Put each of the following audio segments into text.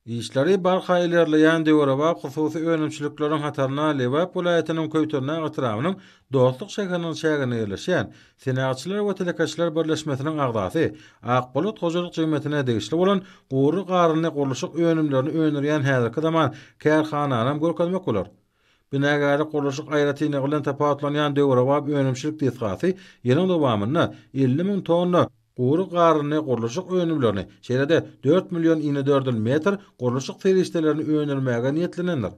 Işleri barha ilerleýän döwrebap hususy önümçilikleriň hataryna Lebap welaýatynyň Köýtendag etrabynyň Dostluk şäheriniň çäginde ýerleşýän Senagatçylar we telekeçiler birleşmesiniň agzasy Akbolat hojalyk jemgyýetine degişli bolan gury garynly gurluşyk önümlerini öndürýän häzirki zaman kärhananam görkezmek bolar. Binagärlik gurluşyk aýratynlygy bilen tapawutlanýan döwrebap önümçilik desgasy ýylyň dowamynda elli müň tonna gury garynly gurluşyk önümlerini, şeýle-de dört million inedördül metr gurluşyk serişdelerini öndürmäge niýetlenendir.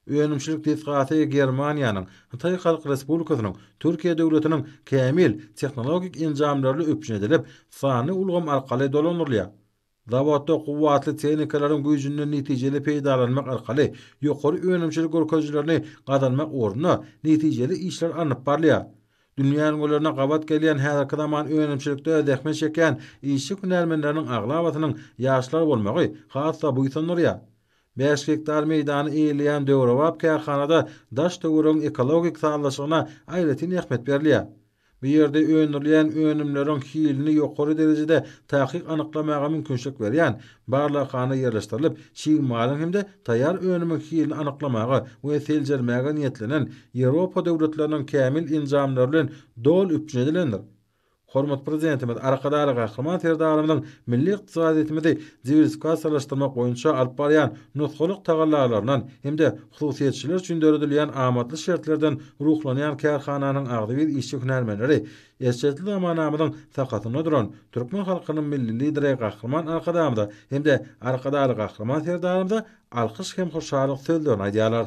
Önümçilik desgasy Germaniýanyň, Hytaý Halk Respublikasynyň, Türkiýe Döwletiniň kämil tehnologik enjamlaryla üpjün edilip, sanly ulgam arkaly dolandyrylýar. Zawodda kuwwatly tehnikalaryň güýjünden netijeli peýdalanmak arkaly ýokary önümçilik görkezijilerini gazanmak ugrunda netijeli işler alnyp barylýar. Dünýä ülňülerine gabat gelýän häzirki zaman önümçilikde zähmet çekýän işçi hünärmenleriniň aglabasynyň ýaşlar bolmagy has-da buýsandyrýar. Bäş gektar meýdany eýeleýän döwrebap kärhanada daş-töweregiň ekologik sazlaşygyna aýratyn ähmiýet berilýär. Bu ýerde öndürilýän önümleriň hilini ýokary derejede takyk anyklamaga mümkinçilik berýän barlaghana ýerleşdirilip, çig malyň hem-de taýýar önümiň hilini anyklamaga we seljermäge niýetlenen Ýewropa döwletleriniň kämil enjamlary bilen doly üpjün edilendir. Hormatly Prezidentimiz Arkadagly Gahryman Serdarymyzyň milli ykdysadyýetimizi diwersifikasiýalaşdyrmak boýunça alyp barýan nusgalyk tagallalaryndan hem-de Hususyýetçiler üçin döredilýän amatly şertlerden ruhlanýan kärhananyň agzybir işçi-hünärmenleri eşretli zamanamyzyň sakasynda duran türkmen halkynyň Milli Lideri Gahryman Arkadagymyza hem-de Arkadagly Gahryman Serdarymyza alkyş hem hoşallyk sözlerini aýdýarlar.